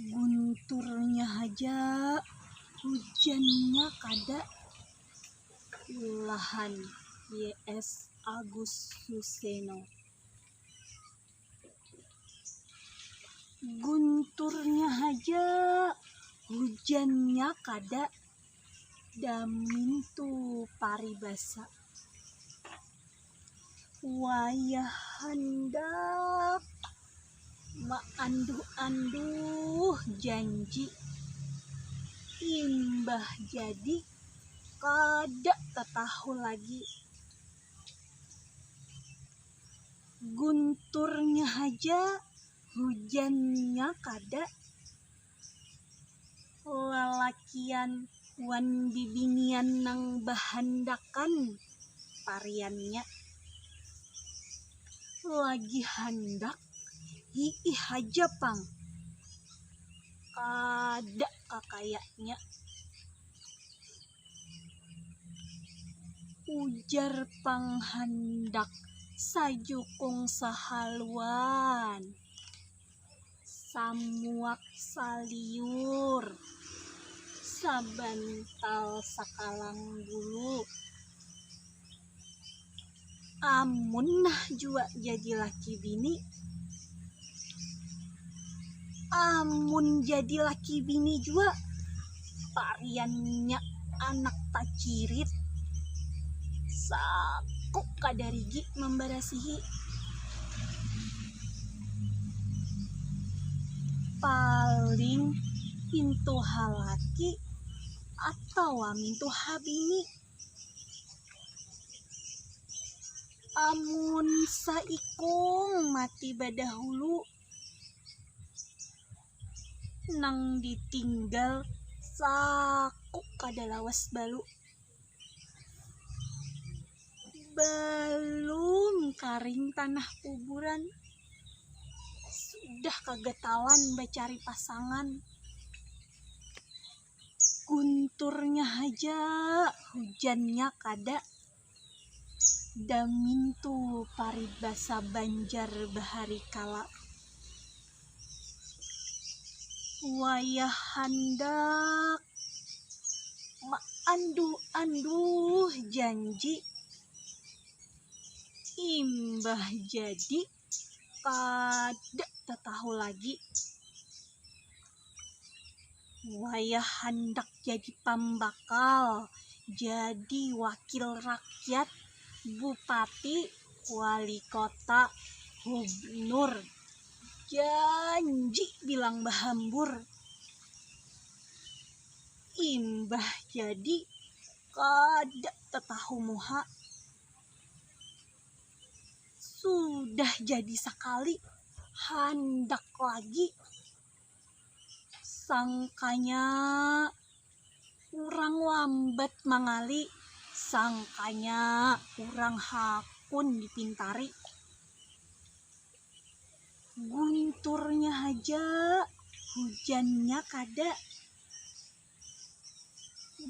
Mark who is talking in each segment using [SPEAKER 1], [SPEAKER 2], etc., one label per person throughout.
[SPEAKER 1] gunturnya haja hujannya kada ulahan YS Agus Suseno gunturnya haja hujannya kada. Damintu paribasa wayah handak maanduh-anduh janji imbah jadi kada tatahu lagi gunturnya haja hujannya kada lalakian wan bibinian nang bahandakan pariannya lagi handak hiih haja pang kada kakayanya ujar pang handak sajukung sahaluan. samuak saliur sabantal sakalang bulu amun nah jua jadi laki bini amun jadi laki bini jua. tariannya anak tacirit saku kadarigi mambarasihi paling pintu halaki atawa mintu habini amun saikung mati badahulu. nang ditinggal saku kada lawas balu balum karing tanah kuburan sudah kagatawan bacari pasangan gunturnya haja hujannya kada. Damintu paribasa Banjar bahari kala. Wayah handak maanduh-anduh janji, imbah jadi. kada tatahu lagi wayah handak jadi pambakal jadi wakil rakyat bupati wali kota hubnur janji bilang bahambur imbah jadi kada tatahu muha. sudah jadi sakali handak lagi sangkanya urang lambat mangali sangkanya urang hakun dipintari gunturnya haja hujannya kada.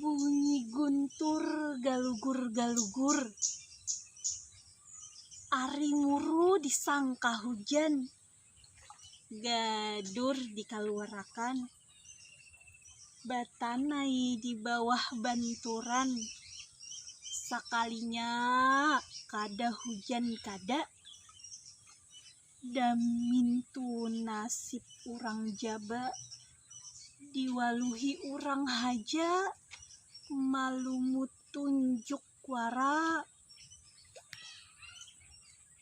[SPEAKER 1] Bunyi guntur galugur-galugur Ari muru disangka hujan Gadur dikaluarakan Batanai di bawah banturan Sakalinya kada hujan kada Damintu nasib urang jaba diwaluhi urang haja malumutunjuk wara.